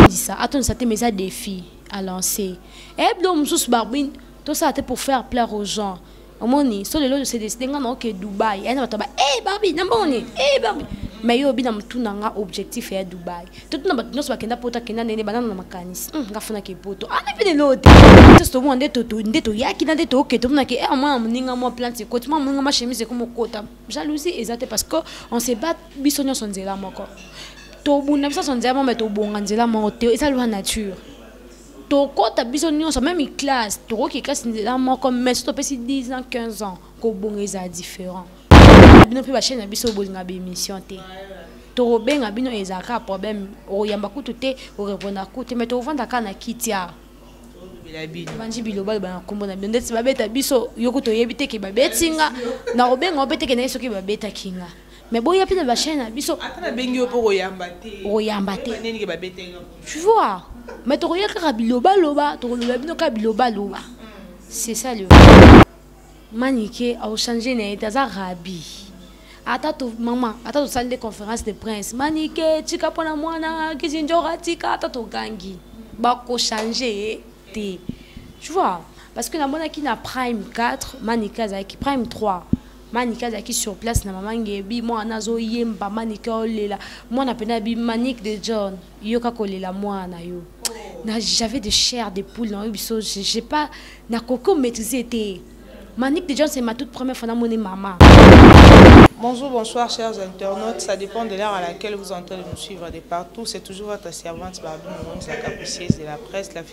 atondisa atondisa te mais eza défi à lancer eyebi eh, biloko mosusu barbine tosala te pour faire plaire aux gens omoni so lelo se décide nga na oke dubai ayana bato ba e barbi na mbongo nini e barbi mais yo obi na motu na nga objectif ya dubai totuna bato nyonso bakenda poto akenda ndene banana na makanisi hmm, nga funaki poto ana ah, mpe lelo te nyonso tomona nde toyaki na nde toke tomonaki e eh, mwana moninga mwa plante ekoti mwa moninga mwa chemise ekoma okota jalousie eza te parce que on se bat biso nyonso nzela moko tobunda biso nyonso nzela moko me tobonga nzela moko te eza lwa nature tokɔta biso nyonso meme classe tokoki classe nzela moko me so topesi 10 ans 15 ans kobonga ezala différent bino mpe bachaine na biso bolinga baémission te tokobenga bino ezala kaka problème okoyamba kutu te oreponda kutu te me tokovanda kaka na kiti awa banji biloba loba na nkombo na bino ndeti babeta biso yo kutu oyebi te ke babeti nga nakobenga yo mpe te ke naye soki babetaki nga mais boya mpe na bachaine na biso ata nabengi yo mpo koyamba te koyamba te nini ke babeteli tu vois mais tokoya kaka bilobaloba tokoloba bino kaka bilobaloba c'est ça le manike aochange na ye te aza rabi ata to mama ata tosali nde conférence de prince manike tika mpo na mwana kizinjora tika ata togangi bakochange ye te tu vois parce que namonaki na prime 4 manike azalaki prime 3 manike azalaki sur place na mama ngebi mwana azoyemba manike olela mwana mpena bi manike de john yoka kolela mwana na yo j'avais de chair de poule na yo biso j'ai pas nakoki omaîtrise ete manike de john c'est ma toute première fois namoni mama Bonjour, bonsoir chers internautes. Ça dépend de l'heure à laquelle vous entendez nous suivre de partout. C'est toujours votre servante Barbie Mounza, capucieuse de la presse, la fille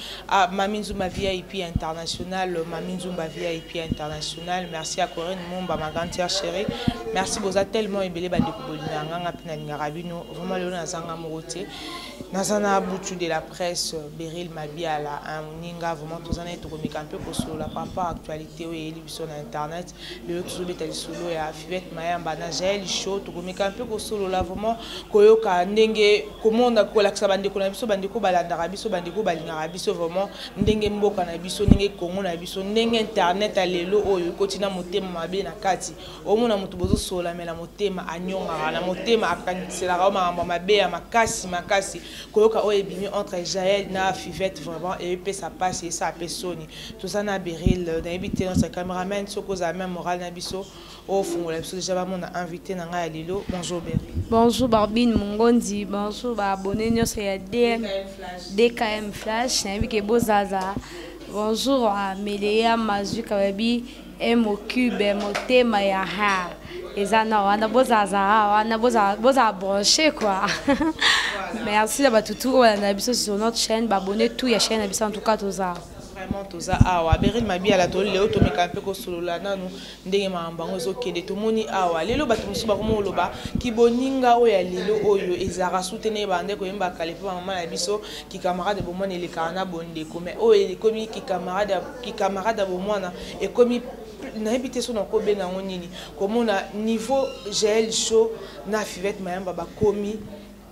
Ah, Mami Nzumba VIP International, Mami Nzumba VIP International, merci à Corinne Mumba, ma grande sœur chérie. Merci boza tellement ebele ba ndeko bolina nganga pina lingaka bino. Vraiment lelo nazanga morote. Nazana butu de la presse, Beryl Mabiala, un ninga vraiment tozana etokomeka un peu kosolola par rapport à actualité oyo eyeli biso na internet. lelo tozobeta lisolo ya fivette mayamba na jael show tokomeka mpe kosolola vraiment koyoka ndenge komona kolakisa bandeko na biso bandeko balandaka biso bandeko balingaka biso vraiment ndenge mboka na biso ndenge kongo na biso ndenge internet ya lelo oyo ekoti na motema mabe na kati omona moto bozosolola me na motema anyongaka na motema akangiselaka o makambo ya mabe ya makasi makasi koyoka oyo ebimi entre jael na fivette vraiment epesa mpasi esaa mpe soni toza na beril nayebi te notre cameraman soki ozala meme moral na biso ofungola biso deja bamona invité na ngai ya lelo bonjour beril bonjour barbine mongondi bonjour baabonne nyonso ya dm dkm flash nayebi ke bozaza bonjour ameleya mazwika bayebi Emo cube motema ya ha eza na wana bozazaa wana bozala branche quoi merci na bato tout oyo balanda na biso sur notre chaîne babone tout ya chaîne na biso en tout cas tozaa vraiment toza awa berine mabiala toli lelo tomeka mpe kosolola nanu ndenge makambo yango ezokende tomoni awa lelo bato mosusu bakoma koloba kiboninga oyo ya lelo oyo ezalaka sute na ye bande koyembaka kale mpe bamama na biso ki camarade ya bomwana elekaka na bondeko mais oyo ekomi ki camarade ya ki camarade ya bomwana ekomi nayebi te so nakobenga yango nini komona niveau jael show na fivette mayamba bakomi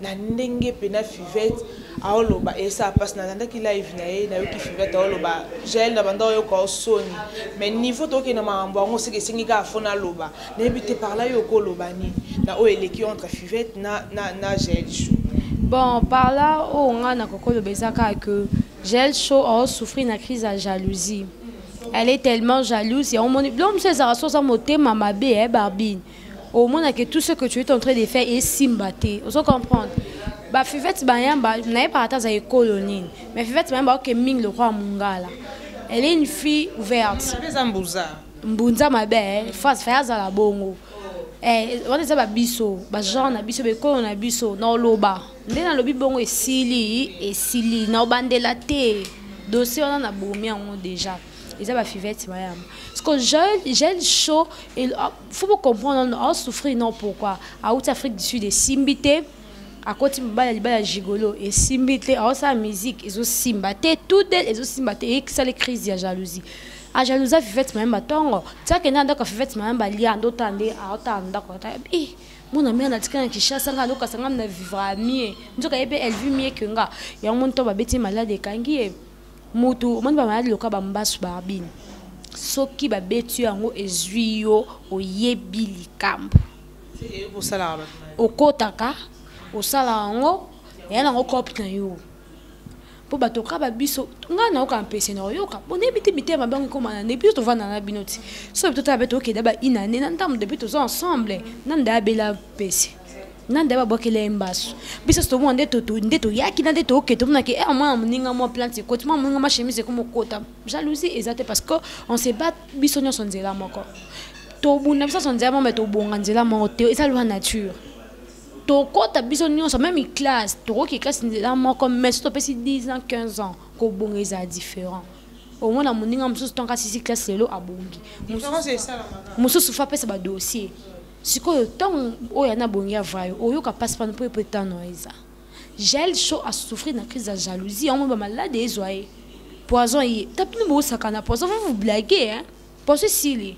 na ndenge mpe na fivette aoloba esa mpasi nalandaki live na ye nayoki fivette aoloba jael na banda oyoka osoni mais niveau tokokende makambo yango seke esengi kaka fo naloba nayebi te par là yo okoloba nini na oyo eleki entre fivette na, na, na gel show bon par là oyo ngai nakokoloba eza kaka ke gel show aosouffrir na crise ya jalousie elle est tellement jalouse yango omoni biloko mosusu ezalaka so oza motema mabe e eh, barbine omonake tout ce que tu es en train de faire esimba te ozo comprendre bafivete bayamba nayebaka ata aza ekolo nini mais fivete bayamba oke mingi lokola mongala elle est une fille ouverte mbunza mabe eh, face faye azala bongo eh, wana eza babiso bagenre na biso bekolo na biso na oloba nde nalobi bongo esili esili na obandela te dossier wana nabomi yango déjà eza bafivete mayama siko gel chaud ah, faut bocomprendre asouffrir non pourquoi auti afrique du sud esimbi te akoti mobali ya libala ya gigolo esimbi te aosala musique ezosimba te tout del ezosimba te eyekisali crise ya jalousie a jalousa fivette mayemba tongo tiake nde andako ya fivette mayemba lia nde otala nde aotala ndako ata eh, mona mia natika na kinshasa nga alokasa nga na vivra mie nzoka ye mpe elvi mie ke nga yango moni to babeti malade ekangi ye mutu omoni bamalade loka bambasu barbine soki babeti yo yango ezwi yo oyebi likambo okotaka osalaka yango eya nango cope na yo mpo bato kaka babiso ngai nayoka mpese na oyoka boneyebi te mitema bango ekoma na depuis tovanda na bino ti so yebi totala mpe tokenda ba inane na ntango depuis toza ensemble na nda abela mpese na nda babwakela ye mbasu biso tomona nde toyaki na nde toke tomonaki e mwana moninga mwa plante ekoti mwa moninga mwa chemise ekomokota jalousie eza te parce que on se bat biso nyonso nzela moko tobunda biso nyonso nzela moko me tobonga nzela moko te eza lwa nature tokota biso nyonso meme classe tokoki classe nzela moko mais so topesi 10 ans 15 ans kobonga ezala différent omona moninga mosusu ntango asisi classe lelo abongi mosusu fa apesa badossier sikoyo ntango oyo ana abongi avrai oyoka mpasi mpano mpo epo etano eza jael show asouffrir na crise ya jalousie yango ba malade ezwa ye poison ye ta bino bosakana poison va vous blague hein poison esili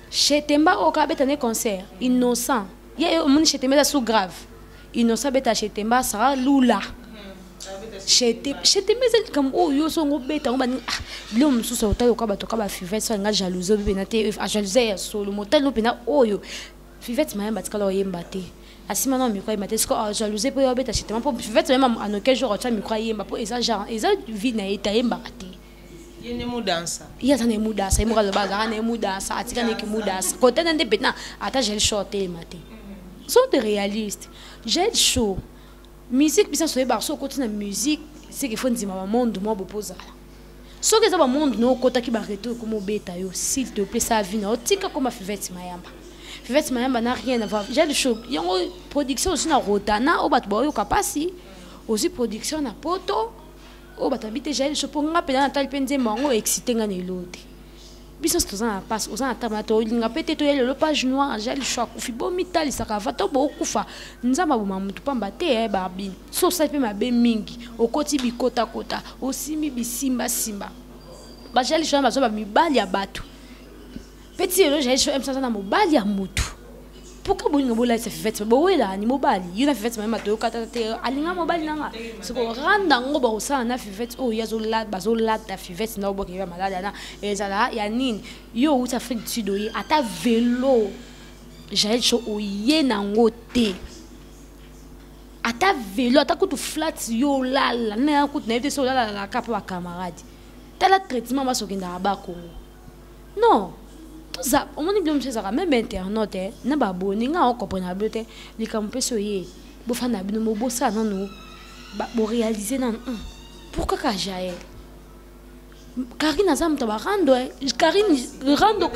Chez Temba oka beta ne concert innocent. Ye omoni chez Temba sous grave. Innocent beta chez Temba sera lula. Chez Temba ezali likambo oyo yo songo beta ngo bani ah bilo mosusu otali oka bato ka ba fivette so nga jalouse obi pena te a jalouse ya solo motali no pena oyo fivette mayamba tikala oyemba te asima na micro ayemba te siko ah, jalouse mpo yo abeta chez Temba mpo fivette mayamba anoke jour atya micro ayemba mpo eza genre eza vie na ye te ayembaka te ye nde mudansa ye aza na ye mudansa ye moko aloba azalaka na ye mudansa atika ndeki mudansa kotana nde mpena ata gel show atelema te sont de réaliste gel show musique biso nyonso oyebaka soki okoti na musique seke fo ndima bamonde mwa bopo ozala soki eza bamonde na okotaki bareto ekoma obeta yo s'il te plaît sa vie na otika koma fivete mayamba fivete mayamba na rien avoir gel show yango production ozwi na rotana oyo bato baoyoka mpasi ozwi production na poto oyo bato babi te jael sho mpo nga mpenza natali mpe nzembo yango excite nga na eloo te biso nyonso toza na mpasi oza na ntango na tolinga mpe te toya lelo page noire jael sho akufi bomitalisaka ava to bokufa nzambe aboma moto mpamba te eh, babi so osali mpe mabe mingi okoti bikotakota osimbi bisimbasimba bajael sho na bazwa bamibali ya bato petit elo jaye sho emsa na mobali ya mutu pourquoi bolinga bolalisa fivete bowela ni mobali yo na fivete mayema toyokata te alinga mobali nanga soko randa yango bakosala na fivete oyo oh, bazolata fivete na oboke ya maladi ana ezala ya nini yo outi afrique du sud oye ata velo jael sho oye nango te ata velo ata kutu flat yo olala naya kutu nayebi te so olalalaka mpo bacamarade tala traitement basokendaka bakongo non toza omoni bino mosusu ezalaka meme internaute eh, na baboni nga okomprena bino te likambo mpesi oye bofanda bino mobosala nanu borealize nanu hmm, pourquoi ka jael karine aza moto barando eh. karine rando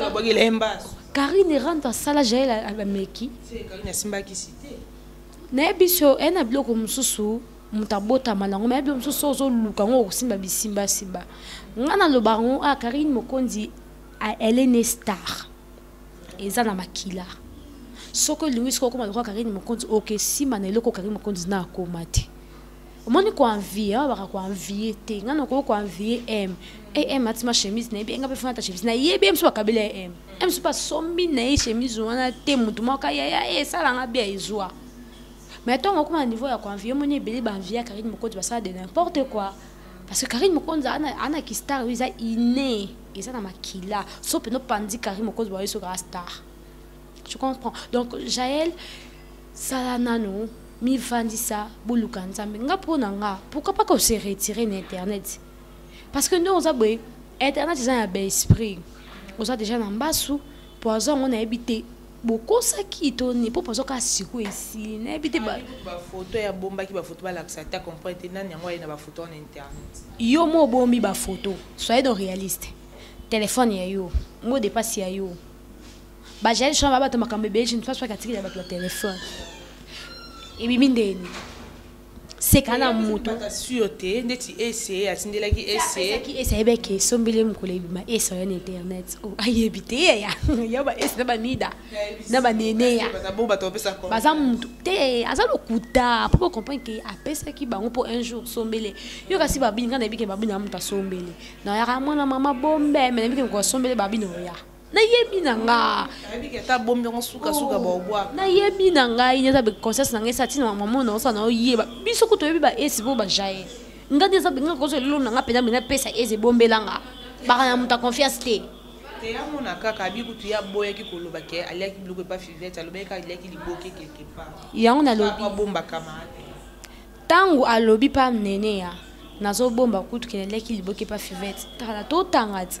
karine rando asala jael ameki nayebi so eye eh, na biloko mosusu moto abotama nango mayebi yo mosusu ozoluka yango okosimba bisimbasimba ngai naloba yango a ah, karine mokonzi elle est ne star eza na makila soki olingi soki okoma lokola karine mokonzi okesima na eloko karine mokonzi na akoma te omoni koanvie awa baka koanvie te ngai nakoki koanvie m am atima chemise na ye bi enga mpe fana ta chemise na ye bi ye mosusu bakabeli ya m m mosusu basombi na ye chemise wana te motu moko yaya esala ngai bi ya ezwa Mais tant qu'on a un niveau ya ko envier moni ebele ba envier Karine Mokonzi ba ça de n'importe quoi. Parce que Karine Mokonzi ana ana ki star oui ça inné et ça na makila. Sauf no pandi Karine Mokonzi ba yeso ka star. Tu comprends? Donc Jaël sala nanu mi vandi ça boluka nzambe nga pona nga pourquoi pas qu'on se retirer na internet? Parce que nous on a boy internet ils ont un bel esprit. On a déjà un bassou poison on a habité bokosaki to ni po pozo kaka siko esili nayebi te bafoto ya bombaki bafoto balakisa ata comprendre te nani yango aye na bafoto wana internet yo mo obombi bafoto soye do réaliste telefone ya yo mo depasi ya yo bajali shona babato makambo ebele je ne pense pas katikeli ya bato ya telefone ebimi ndeni seka na moto sur te ndeti ese atindelaki eseaki ese ayebi eke esombeli mokolo ebima ese oya na internet oh, ayebi te yeya ya ba ese na banida na baneneya baza motu te aza lokuta mpo bocomprendre ke apesaki bango mpo un jour sombele yo kasi babini ngai nayebike babini ya moto asombele nayaka mwana mama bombe me nayebike mokoasombele babini oya nayebi na nga nayebi na ngai eza conscience na ngai esa ntina mama na osana oyeba biso kutu oyebi baesi mpo bajaye nga nde eza benga kozo lelo na nga mpenza mpenza pesa eze ebombela nga baka na moto ya confiance te te amona kaka abi kutu ye aboyaki koloba ke aliaki biloko epa fivete alobaki kaka aliaki liboke quelque part yango nalobi abombakama ntango alobi pa nene ya nazobomba kutu ke naliaki liboke epa fivete tala totanga ti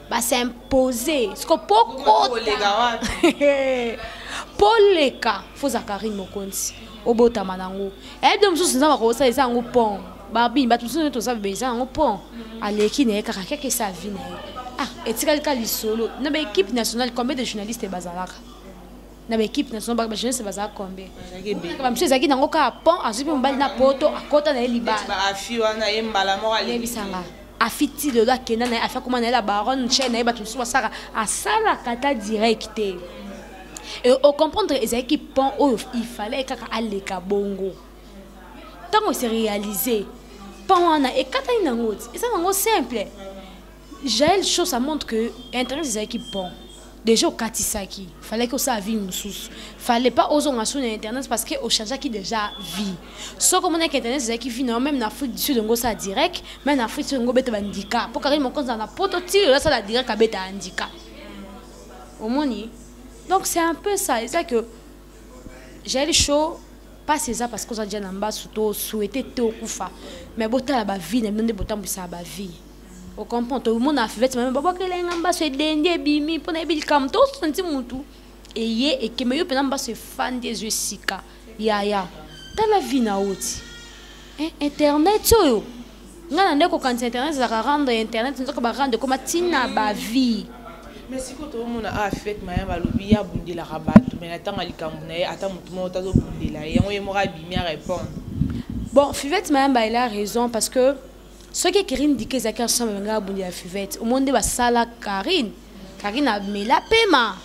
ba s'impose siko po kota po leka fo za Carine Mokonzi obotama nango eyebi mosusu nzambe akosala eza yango pont barbine bato mosusu nde toza bebe eza yango pont aleki na ye kaka keke esa avi na ye ah etikali ka lisolo na baekipe nationale combien de journaliste bazalaka na baekipe national baka bajeunesse bazalaka combien bamisu ezalaki nango kaka pont azwi mpe mobali na poto akota na ye libalabisanga afi ti lelo akenda na ye afi akoma na ye la baronne chaine na ye bato mosusu basaka asalaka ata direct te e ocomprendre ezalaki pont oyo ifalai kaka aleka bongo ntango ese réalise pont wana ekatani nango ti eza nango simple Jael show ça montre que internet ezalaki bon déjà okatisaki fallait que osala vie mosusu fallait pas ozonga su na internet parce que ochangeaki déjà vie soki omonaki internet ezalaki vie na yo même na afrique du sud yango osala direct même na afrique du sud yango obeta bandika mpo kakeli mokonzi na poto ti oyo asala direct abeta handika omoni donc c'est un peu ça eza que jael show mpasi eza parce que oza dia na mbasu to souhaite te okufa mais botala bavie na bino nde botambwisaka bavie o comprend tomona fivete mame babwakela ye nga mbaso edendi ebimi mpo nayebi likambo tosanti motu eye ekembe yo mpenza mbaso efandi ezwi esika yaya tala vi na oti eh, internet oyo ngai na nde kokanisa internet ezalaka rendre ya internet nzoka barendre ekoma ntina bavie mais sikoyo toomona awa ah, fete maya balobi ye abundelaka bato mai na ntango ya likambo na ye ata motu moko tazobundela ye yango ye moko abimi arépondre bon fivete mayamba ela raison parce que soki Karine Dika ezalaki ensemble banga abundi ya fivette au moins nde basala Karine Karine amela pema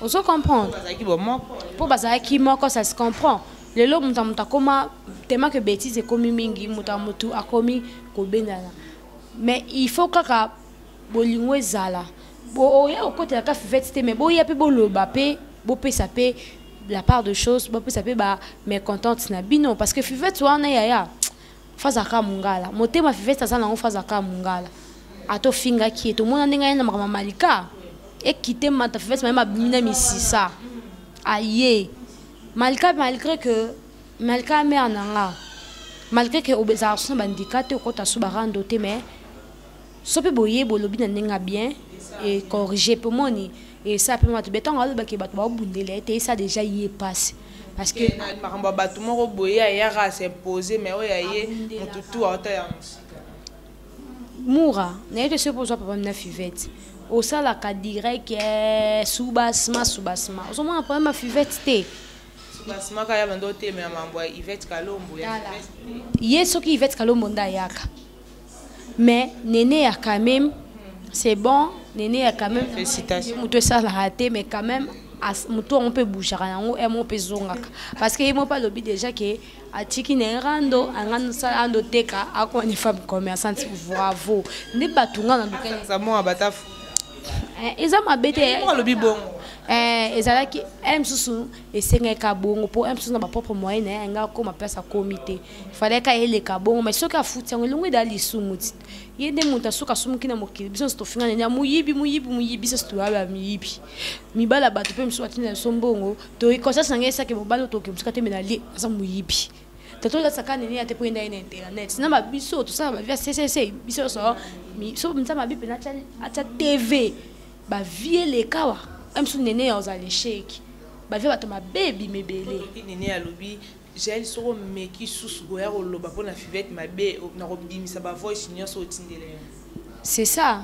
ozo comprendre bazalaki bomoko po bazalaki moko ça se comprend lelo moto ya moto akoma tema que bêtise ekomi mingi moto ya moto akomi kobendana mais il faut kaka bolingo ezala oya kokotela ka fivette te mais boya mpe boloba mpe bopesa mpe la part de chose bopesa mpe ba mécontente na bino parce que fivette wana yaya faza ka mungala motema fivete aza nango faza ka mungala ata ofingaki ye tomona ndenge aye na makambo ya malika ekite mata fivete maye mabimi na misisa aye malika malgré que malika mare na nga malgré que obezalaka so na bandika te okota so barando te mais sope boye bolobi na ndenge ya bien e corrige mpe omoni esa mpe bato betongo alobaki bato baobundela ye te esa deja ye mpasi parce que makambo ya bato moko boye ayaka asimpose mai oyo ya ye motu tu auta ya mosika mura naye te soki mpo ozwa papa mina fivete osalaka direct eh, subasma subasma ozomona problème ya fivete te subasma kaya bando otelemela mambo ya ivete kalombo ye soki ivete kalombo nde ayaka mais neneya quand même c'est bon neneya quand même moto esalaka te mais quand même moto yango mpe ebougeaka yango emo mpe ezongaka parce que ye moko mpe alobi déjà ke atiki na ye rando angani osala ando teka akoma ne femme commerçante bravo nde bato nga na lukaiaa eh, eza mabe te eh, alobi bongo eh, ezalaki mosusu esengaka bongo mpo mosusu na bapropre moyen na ye anga akoma place akomi te fallait ka eleka bongo mais soki afuti yango elongo eda lisumu ti ye nde moto asoki asumuki na mokili biso nyonso tofingana nya moyibi moyibi moyibi biso nyonso toyaba miyibi mibali ya bato mpe mosusu batinda biso mbongo toyi conscience na ngai esaki mobali oyo tokoki mosika te mena lie aza moyibi tato la sakane ni ate poenda ina internet na ba biso to sala ba via ccc biso so mi so mta mabi pena cha acha tv ba vie le kawa am so nene ya ozale sheki ba via bato mabebi mebele nene ya lobi Jael soki omeki susu koya koloba mpo na fivette mabe nakobimisa ba voice nyonso otindele yo c'est ça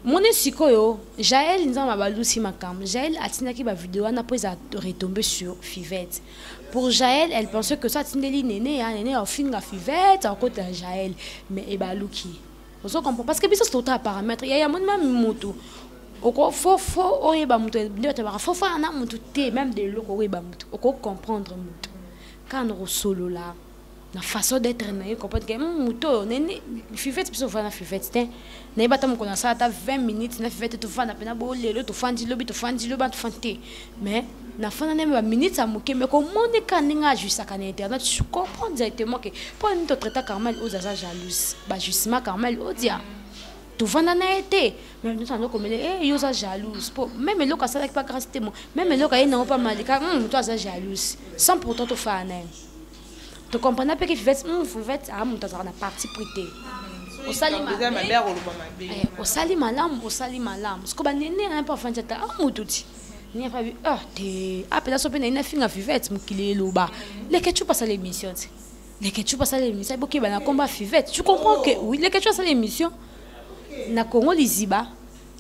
moni sikoyo jael nzambe abalusi makambo jael atindaki bavideo wana mpo eza retombe sur fivette pour jael elle pense que so atindeli nene ya nene afinga fivette akota jael mais ebaluki ozo comprendre parce que biso totala parametre yaya moni mami mutu oko fo fo oyeba mutu nde batabaka fo fo ana mutu te même de eloko oyeba mutu oko comprendre mutu kaka na kosolola na façon d'être na ye comprendre ke hmm, mutu oyo nene fivete biso ofana fivete te nayeba ata mokolo nasala ata 20 minutes na fivete tofanda mpena bo lelo tofandi lobi tofandi lobi tofandi te mais nafanda nayembe baminute ya moke me komoni ka ndenge ajuisaka na internet je comprends directement ke mpo nini totraita carmel odia aza jalouse bajusima carmel odia tovanda na ye te me moto ando komele e eh, yo oza jalouse mpo meme eloko asalaki mpa grâce te meme eloko aye nango mpa malika hmm, moto aza jalouse sans pourtant tofaa na ye tokomprena mpe ke fivete hmm, fivete a ah, moto azalaka na parti pris te osali malamu osali malamu siko banene na mpo afandi ata amutu ti Niaka bi ah te apela so pe na ina finga fivette mokili eloba leke chupa sala émission te leke chupa sala émission boki bana komba fivette tu comprends que oui leke chupa sala émission na Congo liziba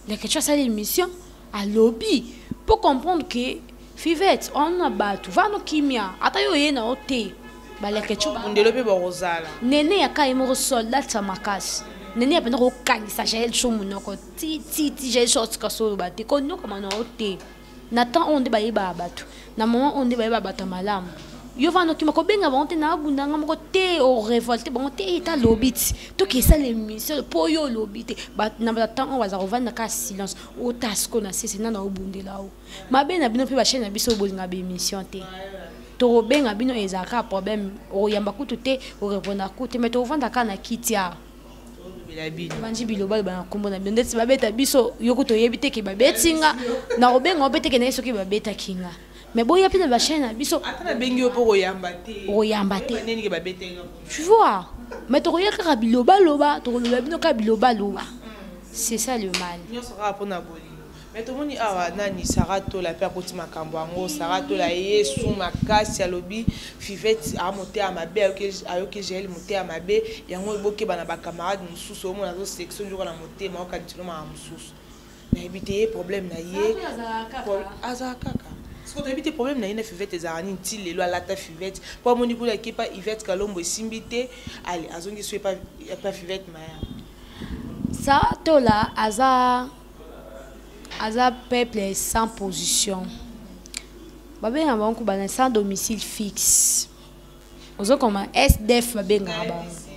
leke chupa sala émission à lobby pour comprendre que fivette on a batu va no kimia ata yo yena o te ba leke chupa ndelo pe ba rozala nene ya kai moko soldat sa makasi nene ya pena ko kangisa jael chou munoko ti ti ti j'ai sorte ka solo ba te ko noko mano te na temps on de baye ba batu na moment on de baye ba batu malam yo va nokima ko benga ba on te na bunda nga moko te au révolte bon te ta lobit to ki sa le monsieur po yo lobite ba na ba temps on va za rovanda ka silence o tasko na sese na na obundela o mabe na bino pe ba chaîne na biso bolinga be mission te tokobenga bino ezalaka problème oyamba kutu te orepondaka kutu te mai tokovandaka na kiti awa banji biloba loba na nkombo na bino ndeti babeta biso yo kutu oyebi te ke babeti nga nakobenga yo mpe teke naye soki babetaki nga me boya mpe na bachaine na biso okoyamba te tu vois me tokoya kaka bilobaloba tokoloba bino kaka bilobaloba c'est ça le mal Mais tomoni awa nani Sarah Tola pe akoti makambo yango Sarah Tola yesu makasi alobi Fivette a moteya mabe ayoki Jael moteya mabe yango bokeba na ba camarade mosusu omona azo sexo nzoka na motema okanisi no maka mosusu nayebi te ye problème na ye azala kaka siko toyebi te problème na ye na Fivette ezalaka nini ti lelo alata Fivette po amoni kuna eke pa Yvette Kalombo esimbi te ale azongi so epa Fivette maya Sarah Tola aza aza peuple sans position babenga bango kuba na sans domicile fixe ozokoma sdf babengaka bango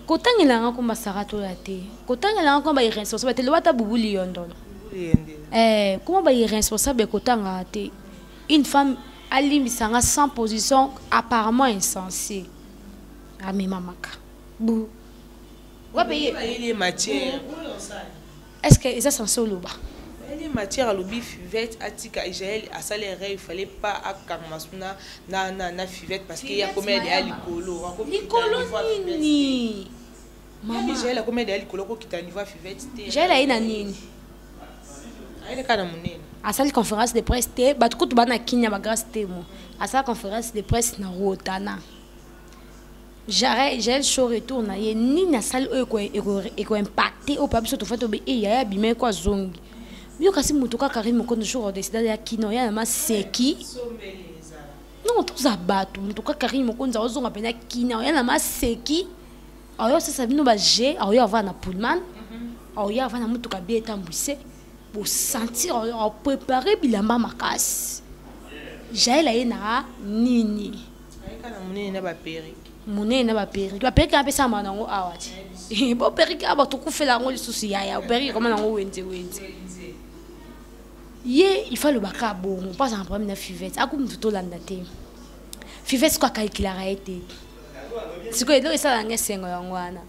kotangela yanga komba saratola te kotangela yanga komba irresponsable te loba ata bubu liyondolo eh, koma ba irresponsable kotangaka te une femme alimbisa nga sans position apparemment insensé amemamaka bu wapi ye bayeli matière est ce que eza sense oloba bayeli matière alobi fivette atika jael asali erreur il fallait pas akangama suna na, na, na fivette parce que ya komela deya likolo likolo nini mama jael akomela deya likolo akokita niveau ya fivette te jael aye na nini ayeli kaka na monene asali conférence de presse te bato kutu bana kinya bagrâce temo asala conférence de presse na rotana Jael Jael show retour na ye nini asali oyo eko impacte oyo pa biso tofandi tobe e yaya abima ye ko azongi yo kasi moto kaka Carine Mokondo jour odesida ya kino ya na maseki non toza bato moto kaka Carine Mokonzi aozonga mpenza kina oya na maseki aoya osasa bino baje aoya ava na pullman mhm. aoya ava na motuka bie etambwise bosentir oprepare bilamba makasi jael aye na nini munene na baperike munene na baperike baperike apesama nango awa ti boperike awa tokufela yango lisusu yaya operike koma nango wenze wenze ye ifa alobaka bongo mpo azala problème na fivete aku motu tolanda te fivete siko akalkilaka ye te sikoyo eloko esalaka nga esengo yango wana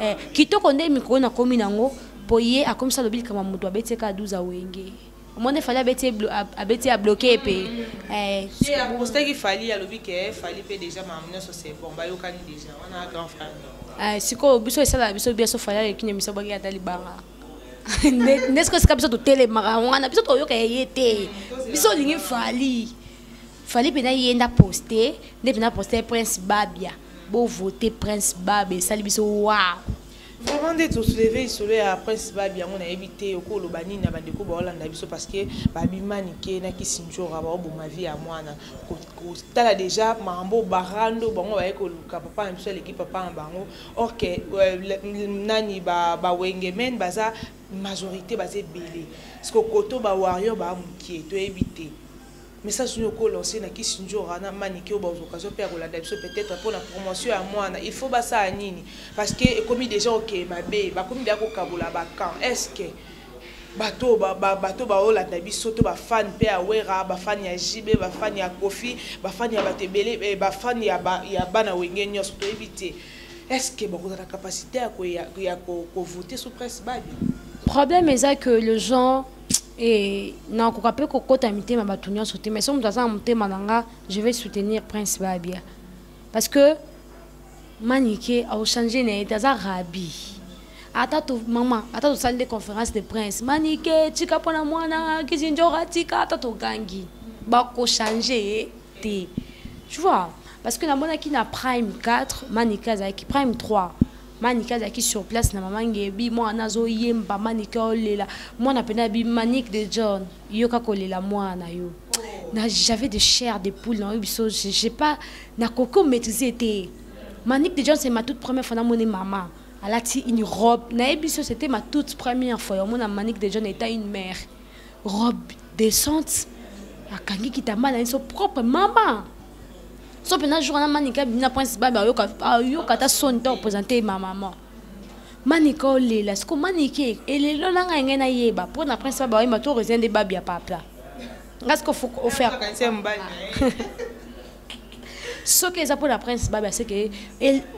eh, kitoko nde mikolo nakomi nango mpo ye akomisa alobi likambo moto abeti eka 12 awenge omoni fali abeti abeti ya bloke ye mpe eh, apostaki fali alobi ke eh, fali mpe déjà makambo nyonso c'est bon bayokani déjà wana grand frère eh, sikoyo biso esalaka biso biso fali aleki nde biso baki ata libanga nde sikoyo esika biso totelemaka wana biso toyoka ye te biso olingi fali fali mpena ye nda poste nde mpena poste prince babia bovote prince babia esali biso wow Vraiment ndeti o souleve lisolo ya Prince Babi yango nayebi te okoki oloba nini na bandeko baolanda biso parce que Babi Manike na Kisindjora baoboma vie ya mwana kotala deja makambo barando bango baye koluka papa na biso aleki papa na bango or que euh, nani ba, ba Wengemen baza majorité baza ebele siko koto ba warrior ba mokie toyebi te Message nini oko lancer na Kissindjora na Manike oyo bazwa occasion mpe ya kolanda biso peut-etre mpo na promotion ya mwana il faut basala nini parce que ekomi déjà okeye mabe bakomi deja kokabola ba camp est ce que bato bato baolanda biso to bafani mpe ya wera bafani ya jibe bafani ya kofi bafani ya bato ebele eh, bafani ya bana wenge nyonso toyebi te est ce que bakozala capacité ya kovote sous presse babi problème eza que le genre nakoka mpe kokota mitema bato nyonso te mais so moto aza na motema na nga je vais soutenir prince babia parce que manike aochange na ye te aza rabi ata to mama ata tosali nde conférence de prince manike tika mpo na mwana kizinjora tika ata togangi bakochange ye te tu vois parce que namonaki na prime 4 manike azalaki prime 3 manike azalaki sur place na mama ngebi mwana azoyemba manike olela mwana mpena bi manike de john yoka kolela mwana na yo j'avais de chair de poule na yo biso j'ai pas nakoki omaîtrise ete manike de john c'est ma toute première fois namoni mama alati une robe nayebi biso c'était ma toute première fois yamona manike de john eta une mère robe descente akangi kitamba na ye so propre mama so mpena jour wana manika bina prince babe ayoka ayoka ata soni to représente ma maman manika olela siko manike elelo na ngai ngai nayeba mpo na prince babe ayemba to resia nde babe ya papa ngai siko ofaire soki eza mpona prince babe aseke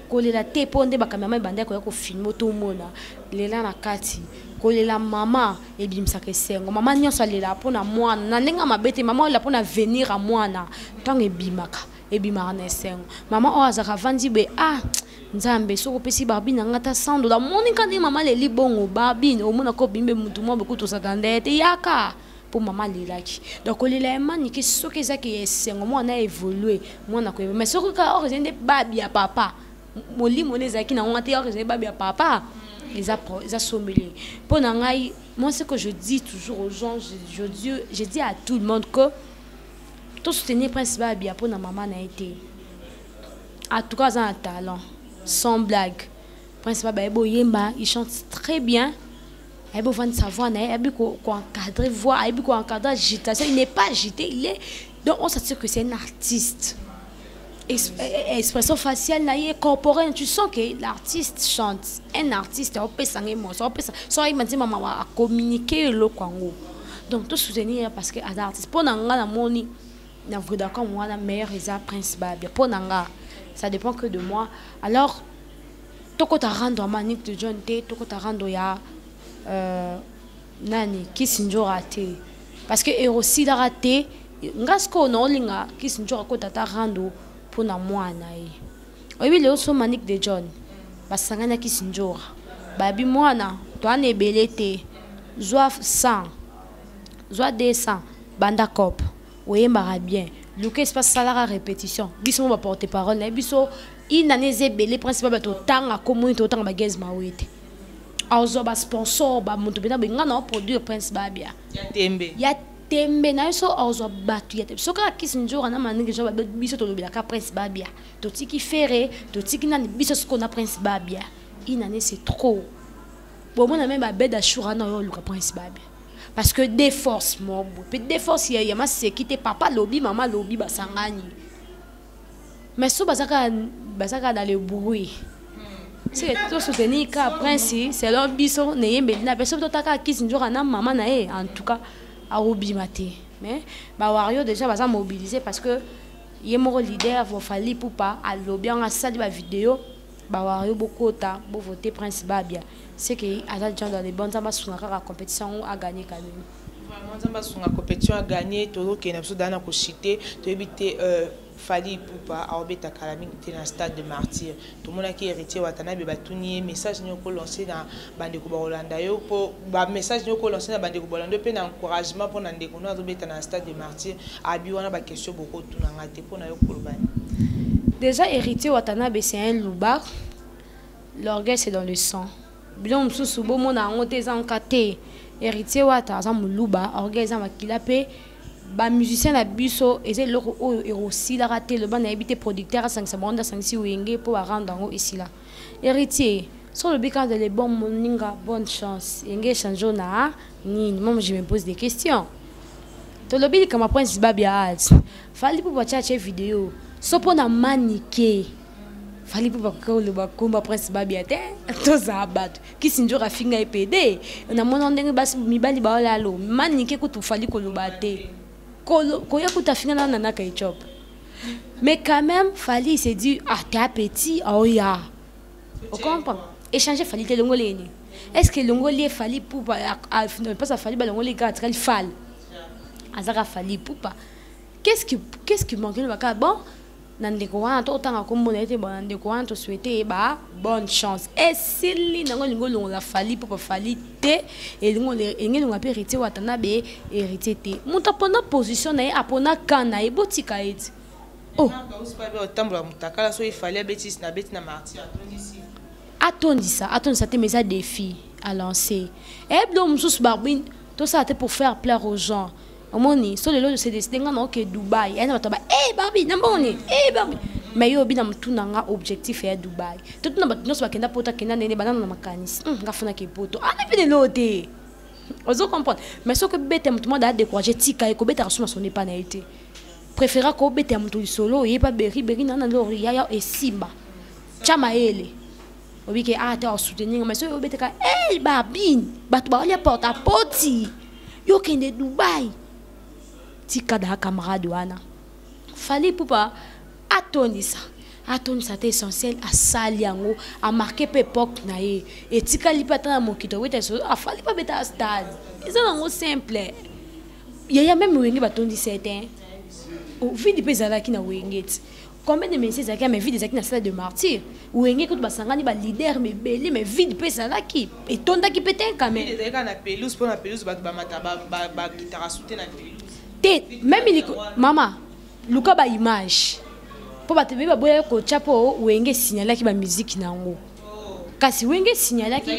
kolela te mpo nde bakameraman ebandaki koya kofilme tomona lela na kati kolela mama ebimisaka esengo mama nyonso alelaka mpo na mwana na ndenge ya mabe te mama olela mpo na avenir ya mwana ntango ebimaka ebimaka na esengo mama oyo azalaka avandi be ah nzambe soki opesi barbine yanga ata sando namoni kani mama leli bongo barbine omona ko bimbe motu mwa bokutu osaka nde te yaka mpo mama alelaki donc kolela ya manike soki eza ke ya esengo mwana aévolue mwana akoyeba mais soki kaka oko ezali nde babi ya papa molimo nde ezalaki na ngonga te oko ezali babi ya papa eza, eza sombele mpo na ngai moi ce que je dis toujours aux gens je, je, dis, je dis à tout le monde que tosoutenir prince babia mpo na mama na ye te en tout cas aza na talent sans blague prince babia ye boyemba il chante très bien ayebi ovandisa voix na ye ayebi koencadre voix ayebi koencadre agitation il n'est pas agité il est donc on s'assure que c'est un artiste eh, eh, expression faciale na ye corporelle tu sens que l'artiste chante un artiste aopesa ngai moso aopesa so ayeba nzema mawa acommunike eloko yango donc tosoutenir ye parce que aza artiste mpo na ngai namoni na vodacom wana meilleur eza prince babia mpo na ngai ça dépend que de moi alors tokota rando ya manik de john te tokota rando ya euh, nani kisinjora te parce que erosilaka te nga sikoyo naolinga kisinjora kota ata rando mpo na mwana ye oyebi lelo so manik de john basangani ya kisinjora bayebi mwana toana ebele te zwa 100 zwa 200 banda cope oyembaka bien luka espace salaka répétition biso mo baporte parole na ye biso une année eza ebele principal bato otanga komoni to otanga bagaz maoye te azwa basponsor bamoto mpenza boye ngai nao produire prince babia ya tembe ya tembe na yo so azwa bato ya tembe soki akisi nzora na maningi nzora babe biso tolobelaka prince babia totiki fere totiki nani biso soko na prince babia une année c'est trop bomona meme babed ashura na yo oluka prince babia parce que de force mobo mpe de force ya maseki te papa lobi mama lobi basangani mais so baza kaka baza kaka na le bruit soki tosoutenir ka prince selon biso neyembeli na biso totaka kisi nzoka na mama na ye en tout cas akobima te mais bawario déjà baza mobilise parce que ye moko leader vofali pupa alobi yango asali bavideo Ba wario bokota bo voter prince babia ce que aza genre dans les bons nzambe asunga kaka competition yango a gagner kalelo. Vraiment nzambe asunga competition a gagner tozokende na biso daa na koshite toyebi te euh, Fally Ipupa aobeta kala mingi te na stade de martyr tomonaki héritier watanabe batuni ye message nini oko lance na bandeko bakolanda yo mpo bamessage nde okolanse na bandeko balanda yo mpe na encouragement mpo na ndeko no azobeta na stade de martyr abi wana baquestion bokotuna ngai te mpo na yo kolobani déjà héritier watanabe c'est un loubar l'orgueil c'est dans le sang biloko mosusu bomona yango te eza nka te héritier wata aza moluba orgueil eza makila mpe bamusicien na biso eza eloko oyo ekosilaka te loba nayebi te producteur asangisa bango nde asangisi wenge mpo barendre yango esila Héritier, si olobi kaka le bon moninga bonne chance enge echange oyo na nini mama je me pose des questions tolobi likambo prince babi ya alt fali pupa atya atye video so mpo na manike fali pupa koki koloba komba prince babi ya te tozala bato kisinjora afinga ye pede namona ndenge basi mibali baolalo manike kutu fali koloba te koya kutu afinga na nanaka etiope Mais quand même, Fali il s'est dit, ah, t'es un petit, oh ya. On comprend. Échanger Fali, t'es longolé. Est-ce que longolé Fali pour pas à Fali, bah longolé gars, très Fal. Azara Fali pour pas. Qu'est-ce qui, qu'est-ce qui manque le baka bon? nandeko wana to otanga komona ete bo nandeko wana toswete ye ba bonne chance esili nango elingi olongola fali mpo bafali te elingo engelonga mpe héritier watanabe héritier te moto apona position na ye apona kan na ye botika ye ti oh. otambola motakala so efali abetisi na beti na martir atondisi atondisa atondisa te mais eza défi à lancer eyebi eh, donc mosusu barbine tosala te pour faire plaire aux gens omoni so lelo se décide nga na oke dubai ayina bato ba e eh, barbi na mbongo nini e eh, barbi mais yo obi na motuna nga objectif ya dubai totuna bato nyonso bakenda poto akenda ndene banano na makanisi hmm, nga funaki poto ana ah, mpe lelo te ozo comprendre mais soki obeta moto mwa daa décourage tika ye kobetaka so na son epa na ye te préféra kobeta moto lisolo oyeba beriberi nana lori yaya esimba tya mayele obi ke ah te osoutenir nga mais soki obetaka ey babine bato baolia porte a poti yo okende dubai tika daa camarade wana fali pupa atondisa atondisa te essentiel asali yango amarke mpe epoke na ye etikali mpe ata na mokito weta afali mpe abeta stade eza nango simple yaya meme wenge batondisa ye te ovidi mpe ezalaki na wenge ti combien de ministres ezalaki mais vide ezalaki na stade de martyr wenge kutu basangani ba leader mebele mais vide mpe ezalaki etondaki mpe te quand même ezalaki na pelouse mpo na pelouse bato bamata bakitaka sute na pelouse te meme liko mama luka ba image mpo bato ebele baboya kotya mpo wenge esignalaki bamiziki na yango kasi wenge esignalaki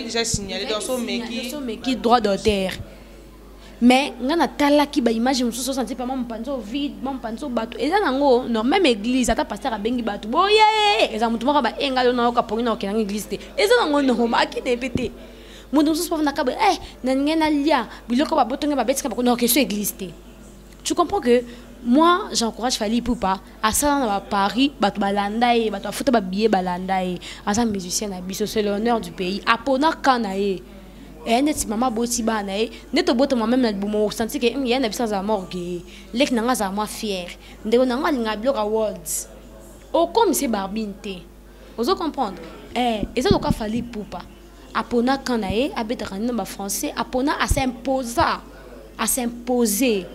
droit d'auteur mais nga natalaki baimage mosusu osanti pama mopanzi oyo vide ma mopanzi oyo bato eza nango no meme église ata pasteur abengi bato boye eza motu moko baenga yo nayoka pongi na okendanga église te eza nango norma akende mpe te moto mosusu bafandaka boye e nalingi nalia biloko babotonge babetika bakona okesio église te tu comprends que moi j'encourage fali pupa asala na baparis bato balanda ye bato bafuta babillet balanda ye aza musicien na biso c'est l'honneur du pays apona ka na ye eya eh, neti mama aboti bana ye eh. nde tobotama meme na libumo osanti ke hmm, ya na biso azala morgue leki na ngai azala mwa fiere ndeko na ngai alingaka biloko ya world okomisi barbine te ozo comprendre eh, eza loka fali pupa apona kan na ye abetaka nino bafrançais apona asimposa asimposer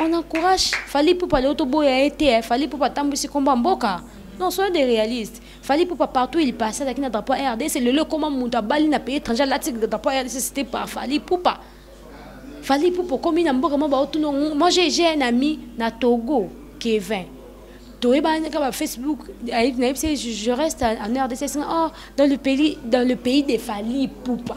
on encourage fali pupa leo toboya ye te eh. fali pupa atambwisi nkombo ya mboka non soyez des réalistes fali pupa partout il passe azalaki na drapeau ya rdc lelo ekoma moto abali na pays étranger alati drapeau ya rdc cité par fali pupa fali pupa okomi na mboka mwa baotuna moi j'ai un ami na togo kevin toyebani kaka ba facebook nayebisi je reste en rdc oh, dans le pays dans le pays de fali pupa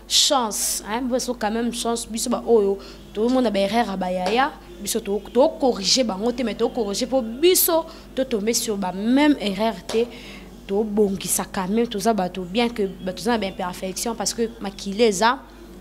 chance hein biso quand même chance biso ba oyo to mona ba erreur ya ba yaya biso to to corriger bango te mais to corriger po biso to tomber sur ba même erreur te to bongisa quand même toza bato bien que bato za na ba imperfection parce que makila eza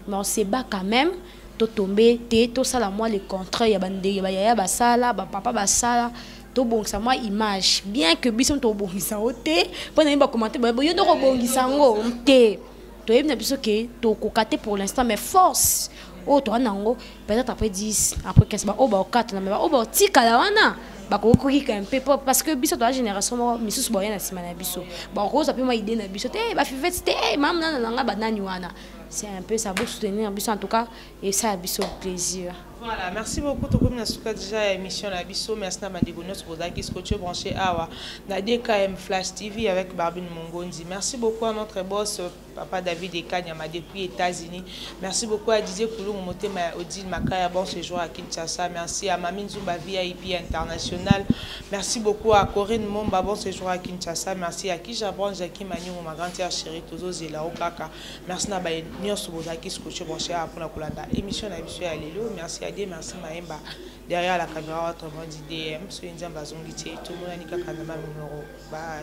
mais on se bat quand même to tomber te to sala moi le contraire ya ba ndenge ba yaya basala ba papa basala tobongisa mwa image bien que biso tobongisa yango te mpo na ye bakomante boye yo ndoko obongisa yango te toyebi na biso ke tokoka te pour l'instant mais force oyo toa na yango peut-être après 10 après 15 baoyo baokatana me baoyo baotikala wana bakoki kokika mpe po parce que biso toa génération moko misusu baoya na nsima na biso bakozwa mpe mwa idée na biso te bafiveti te mamnana na ngai banani wana c'est un peu ça bosoutenir biso en tout cas esala biso plaisir Voilà, merci beaucoup. Tokomi na suka déjà ya émission na biso. Merci na bandeko nyonso bozalaki scotché branché awa na DKM Flash TV avec Barbine Mongondi. Merci beaucoup à notre boss papa David Ekanyama depuis États-Unis. Merci beaucoup à Didier Kulungu motema ya Odile Makaya bon séjour à Kinshasa. Merci à Mami Nzumba VIP international. Merci beaucoup à Corinne Momba bon séjour à Kinshasa. Merci à Kija Branche Jackie Manyungu ma grande sœur chérie Tozo Zela Okaka. Merci na baye nionso bozalaki scotché mon cher pona kolanda émission na biso ya lelo. Merci à Dieu, merci Maemba. Derrière la caméra, autrement dit DM. Soki Nzambe azongi te, tomonani kaka na mamimoro. Bye.